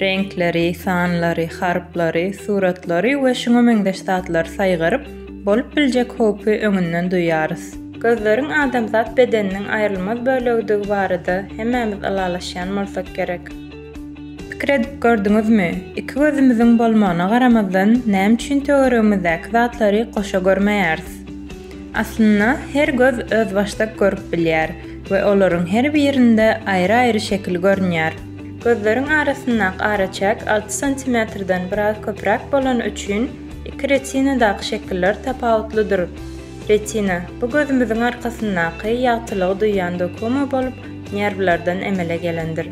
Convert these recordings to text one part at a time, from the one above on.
Reňkleri, sanlary, harplary, suratlary we şuňa meňzeş zatlary saýgaryp, bolup biljek howpy öňünden duýýarys. Gözleriň adamzat bedeniniň aýrylmaz bölegidigi barada hemmämiz ylalaşýan bolsak gerek. Pikir edip gördüňizmi, iki gözümiziň bolmagyna garamazdan, näme üçin töweregimizdäki zatlary goşa görmeýäris? Aslynda, her göz özbaşdak görüp bilýär we olaryň her birinde aýry-aýry şekil görünýär. Gözleriň arasyndaky araçäk alty santimetrden biraz köpräk bolany üçin iki retinadaky şekiller tapawutlydyr. Retina, bu gözümiziň arkasyndaky ýagtylygy duýýan dokuma bolup, nerwlerden emele gelendir.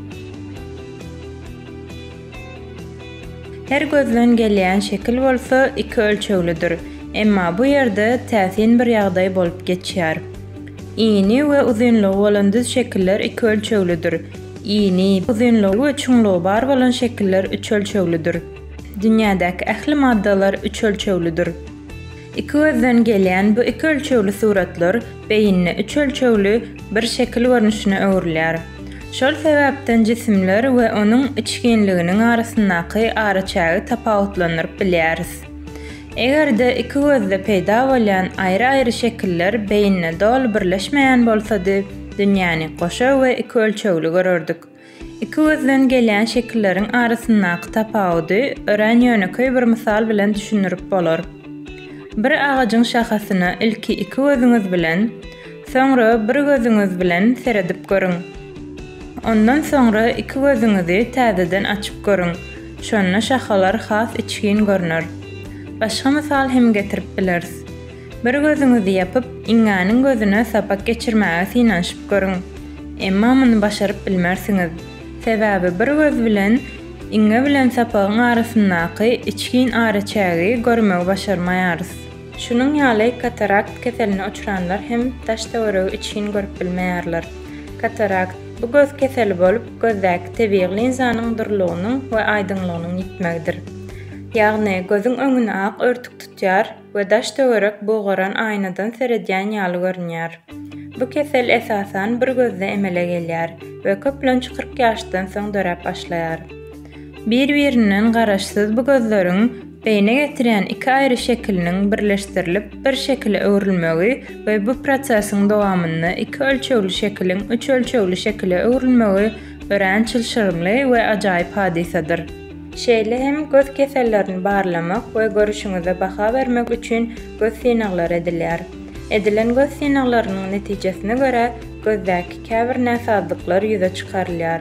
Her gözden gelýän şekil bolsa iki ölçeglidir, emma bu ýerde täsin bir ýagdaý bolup geçýär. Ini we uzynlygy bolan düz şekiller iki ölçeglidir. Ýyny, uzynlygy we çuňlugy bar bolan şekiller üç ölçeglidir. Dünýädäki ähli maddalar üç ölçeglidir. Iki gözden gelýän bu iki ölçegli suratlar beýinde üç ölçegli bir şekil görnüşine öwrülýär. Şol sebäpden jisimler we onuň içginliginiň arasyndaky araçägi tapawutlandyryp bilýäris. Eger-de iki gözde peýda bolýan aýry-aýry şekiller beýinde doly birleşmeýän bolsady, dünýäni goşa we iki ölçegli görerdik. Iki gözden gelýän şekilleriň arasyndaky tapawudy örän ýönekeý bir mysal bilen düşündirip bolar. Bir agajyň şahasyna ilki iki gözüňiz bilen, Soňra bir gözüňiz bilen seredip görüň. Ondan soňra iki gözüňizi täzeden açyp görüň, şonda şahalar has içgin görner. Başga mysal hem getirip bileris. Bir gözüňizi ýapyp, iňňäniň gözüne sapak geçirmäge synanyşyp görüň. Emma muny başaryp bilmersiňiz. Sebäbi bir göz bilen iňňe bilen sapagyň arasyndaky içgin araçägi görmegi başarmaýarys. Şunuň ýaly katarakt keseline uçranlar hem daş-töweregi içgin görüp bilmeýärler. Katarakt, bu göz keseli bolup, gözdäki tebigy linzanyň durulygynyň we aýdyňlygynyň ýitmegidir. Ýagny, gözüň öňüni ak örtük tutýar we daş-töwerek bugaran aýnadan seredýän ýaly görünýär. Bu kesel esasan bir gözde emele gelýär we köplenç kyrk ýaşdan soň döräp başlaýar. Bir-birinden garaşsyz bu gözleriň beýne getirýän iki aýry şekiliniň birleşdirilip bir şekile öwrülmegi we bu prosesiň dowamynda iki ölçegli şekiliň üç ölçegli şekile öwrülmegi örän çylşyrymly we ajaýyp hadysadyr. Şeýle hem göz kesellerini barlamak we görüşiňize baha bermek üçin göz synaglary edilýär. Edilen göz synaglarynyň netijesine görä gözdäki käbir näsazlyklar ýüze çykarylýar.